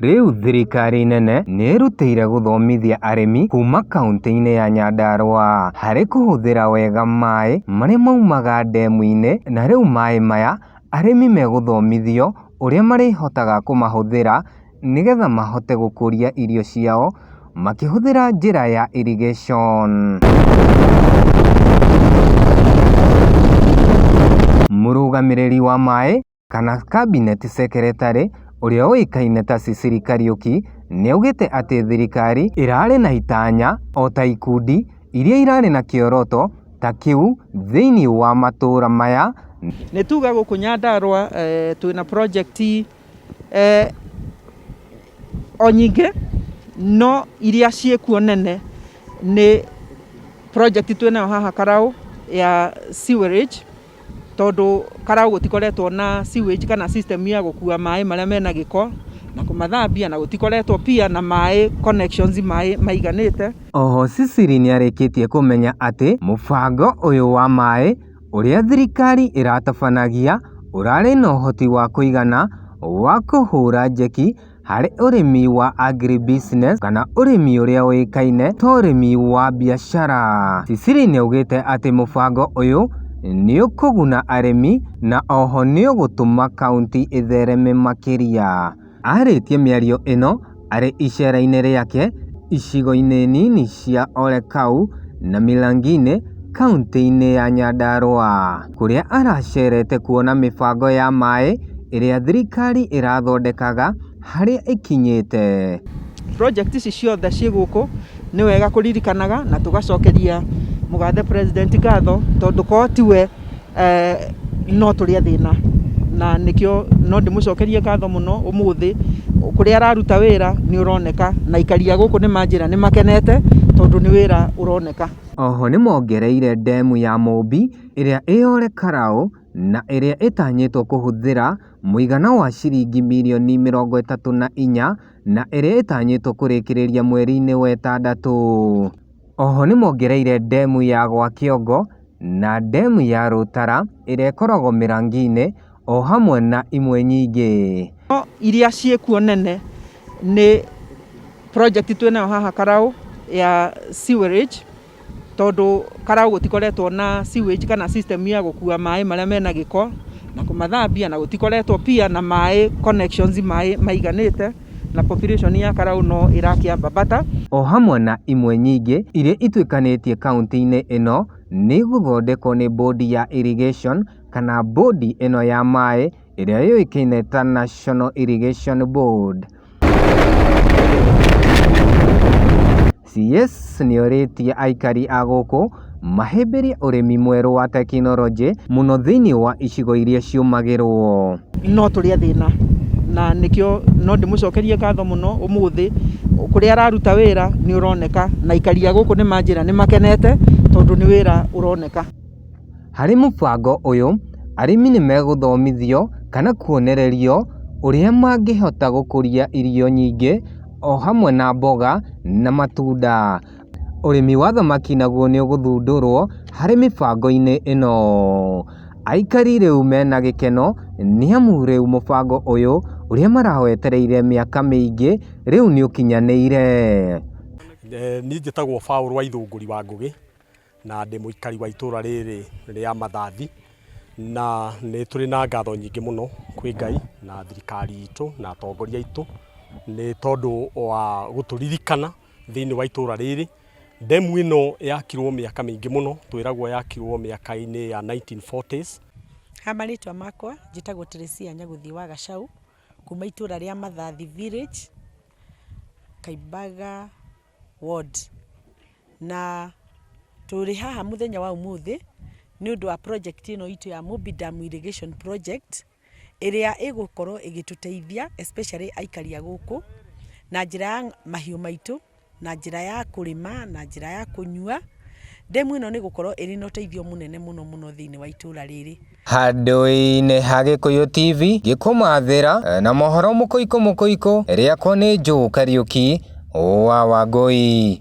Rĩu thirikari nene nĩĩrutĩire gũthomithia arĩmi kuuma kauntĩ-inĩ ya Nyandarua harĩ kũhũthĩra wega maĩ marĩa maumaga ndemu-inĩ na rĩu maĩ maya arĩmi megũthomithio ũrĩa marĩhotaga kũmahũthĩra nĩgetha mahote gũkũria irio ciao makĩhũthĩra njĩra ya irrigation. Mũrũgamĩrĩri wa maĩ. kana Cabinet Secretary ũrĩa ũĩkaine ta Ciciri Kariuki nĩaugĩte atĩ thirikari ĩrarĩ na itanya o ta ikundi iria irarĩ na kĩoroto ta kĩu thĩinĩ wa matũra maya. Nĩ tuga gũkũ Nyandarũa eh, twĩ na project eh, o nyingĩ no iria ciĩkuo nene nĩ project twĩ nayo haha Karaũ ya sewerage tondũ Karaũ gũtikoretwo na sewage kana system ya gũkua maĩ marĩa mena gĩko na kũmathambia na gũtikoretwo pia na maĩ connections maĩ maiganĩte. Oho Ciciri nĩarĩkĩtie kũmenya atĩ mũbango ũyũ wa maĩ ũrĩa thirikari ĩratabanagia ũrarĩ na ũhoti wa kũigana wa kũhũra njeki harĩ ũrĩmi wa agri business kana ũrĩmi ũrĩa ũĩkaine ta ũrĩmi wa biacara. Ciciri nĩ augĩte atĩ mũbango ũyũ nĩ ũkũguna arĩmi na oho nĩ ũgũtũma kaunti ĩthereme makĩria. Arĩtie mĩario ĩno arĩ icera-inĩ rĩake icigo-inĩ nini cia Olekau na Milanginĩ kaunti-inĩ ya Nyandarũa. kũrĩa aracerete kuona mĩbango ya maĩ ĩrĩa thirikari ĩrathondekaga harĩa ĩkinyĩte. Project ici ciothe ciĩ gũkũ nĩ wega kũririkanaga na tũgacokeria mũgathe president ngatho tondũ korwo tiwe eh, no tũrĩ athĩna na nĩkĩo no ndĩmũcokerie ngatho mũno ũmũthĩ kũrĩa araruta wĩra nĩ ũroneka na aikari a gũkũ nĩ manjĩra nĩ makenete tondũ nĩ wĩra ũroneka. Oho nĩmongereire ndemu ya Mũmbi ĩrĩa ĩ Ole Karau na ĩrĩa ĩtanyĩtwo kũhũthĩra mũigana wa ciringi mirioni mĩrongo ĩtatũ na inya na ĩrĩa ĩtanyĩtwo kũrĩkĩrĩria mweri-inĩ wa ĩtandatũ. Oho nĩmongereire ndemu ya gwa Kĩongo na ndemu ya Rũtara ĩrĩa ĩkoragwo Mĩrangi-inĩ. o hamwe na imwe nyingĩ. No iria ciĩkuo nene nĩ project twĩnayo haha Karaũ ya sewerage, tondũ Karaũ gũtikoretwo na sewage kana system ya gũkua maĩ marĩa mena gĩko na kũmathambia, na gũtikoretwo pia na maĩ connections maĩ maiganĩte, na population ya Karaũ no ĩrakĩambambata. O hamwe na imwe nyingĩ iria ituĩkanĩtie kauntĩ-inĩ ĩno nĩ igũthondekwo nĩ bondi ya irrigation, kana mbũndi ĩno ya maĩ ĩrĩa yũĩkaine ta National Irrigation Board. CS nĩorĩtie aikari a gũkũ mahĩmbĩrie ũrĩmi mwerũ wa tekinoronjĩ mũno thĩinĩ wa icigo iria ciũmagĩrwo. No tũrĩ a thĩna na nĩkĩo no ndĩmũcokerie ngatho mũno ũmũthĩ kũrĩa araruta wĩra nĩ ũroneka na aikari a gũkũ nĩ manjĩra nĩ makenete tondũ nĩ wĩra ũroneka. Harĩ mũbango ũyũ, arĩmi nĩ megũthomithio kana kuonererio ũrĩa mangĩhota gũkũria irio nyingĩ o hamwe na mboga na matunda. Ũrĩmi wa thamaki naguo nĩ ũgũthundũrwo harĩ mĩbango-inĩ ĩno. Aikari rĩu mena gĩkeno nĩ amu rĩu mũbango ũyũ ũrĩa marawetereire mĩaka mĩingĩ rĩu nĩ ũkinyanĩire. Niĩ njĩtagwo Paul Waithũngũri wa Ngũgĩ. Na ndĩ mũikari wa itũũra rĩrĩ rĩa Mathathi, na nĩ tũrĩ na ngatho nyingĩ mũno kwĩ Ngai na thirikari itũ na atongoria aitũ nĩ tondũ wa gũtũririkana thĩinĩ wa itũũra rĩrĩ. Ndemu ĩno yakirwo mĩaka mĩingĩ mũno, twĩragwo yakirwo mĩaka-inĩ ya 1940s. Ha marĩtwa makwa, njĩtagwo Teresia Nyagũthiĩ wa Gacaũ, kuma itũũra rĩa Mathathi village, Kaimbaga. ward. Na tũrĩ haha mũthenya wa ũmũthĩ nĩ ũndũ wa project ĩno itũ ya Mobi Dam Irrigation Project, ĩrĩa ĩgũkorwo ĩgĩtũteithia especially aikari a gũkũ, na njĩra ya mahiũ maitũ, na njĩra ya kũrĩma, na njĩra ya kũnyua. Ndemu ĩno nĩ ĩgũkorwo ĩrĩ na ũteithio mũnene mũno mũno thĩiniĩ wa itũũra rĩrĩ. Handũ-inĩ ha Gĩkũyũ TV ngĩkũmathĩra na mohoro mũkũikũ mũkũikũ rĩakwa nĩ Joe Kariuki wa Wangũi.